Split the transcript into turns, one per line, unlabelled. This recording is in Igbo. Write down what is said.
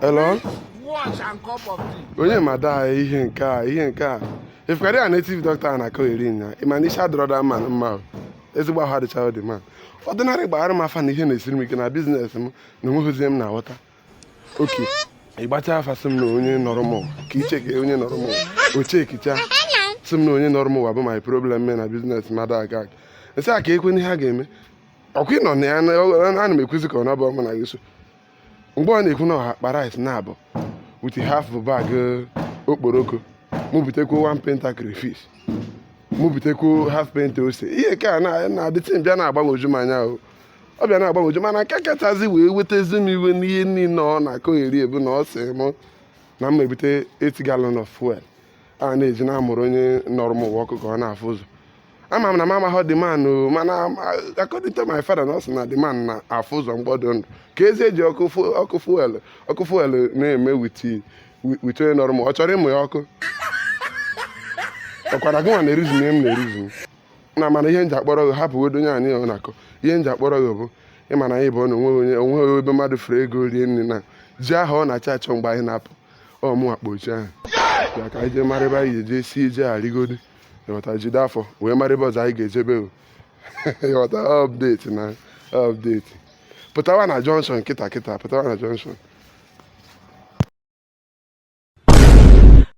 Hello? Watch
and cup of tea. Onye ma daa
ihe nke a ihe nke a efukari a native doctor na-akọgheri nya ịma na isi adịrọ the man mma o. ezigbo ahụ adịcharọ the man ordinary gbaara m afa na ihe na-esiri m ike na business m na onweghịzi ihe m na-aghọta okay ịgbacha afa sị m na onye nọrọ m ụwa, ka i chekie onye nọrọ m ụwa, o chekicha sị m na onye nọrọ m ụwa bụ my problem mee na business m adị aga aga m sị ya kekwanụ ihe a ga-eme ọkwa ịnọ na ya na- ana m ekwuzi ka ọ na-abụrọ mụ na gị so mgbe ọ na-ekwu na ọha akpa rice naabọ with half bag eh, okporoko mụ butekwu one painter crayfish mụ butekwu half painter ose ihe ka na the thing bịa na-agbagwoju m anya o ọ bịa na-agbagwoju mana nke kachazi wee wetazi m iwe n'ihe niile ọ na-akọgheri bụ na ọ sị m na m ebute 8 gallon of fuel a na-eji na-amụrụ onye nọrọ m ụwa ọkụ ka ọ na-afụ ụzọ ama m na m amaghọ the man o mana according to my father na ọ sị na the man na-afụ ụzọ mgbe ọ dị ndụ kezi ihe eji ọkụ fu- ọkụ fuel ọkụ fuel na-eme with with onye nọrọ m ọ chọrọ ịmụ ya ọkụ ọkwara gị nwa na-eruzu m ihe m na-eruzu m na mana ihe m ji akpọrọ gị hapụgodo onye a na ihe ọ na-akọ ihe m ji akpọrọ gị bụ ịma na anyị bụ na onweghị onye onweghị ebe mmadụ fere ego rie nri na ji ahụ ọ na-achọ achọ mgbe anyị na-apụ ọ mụ akpa ochi ahụ ya ka anyị jee mara ebe anyị ga-eje si eje arịgodo ịghọta jide afọ wee mara ebe ọzọ anyị ga-ejebe o ịghọta update na update pụtawa na junction kịta kịta pụtawa na junction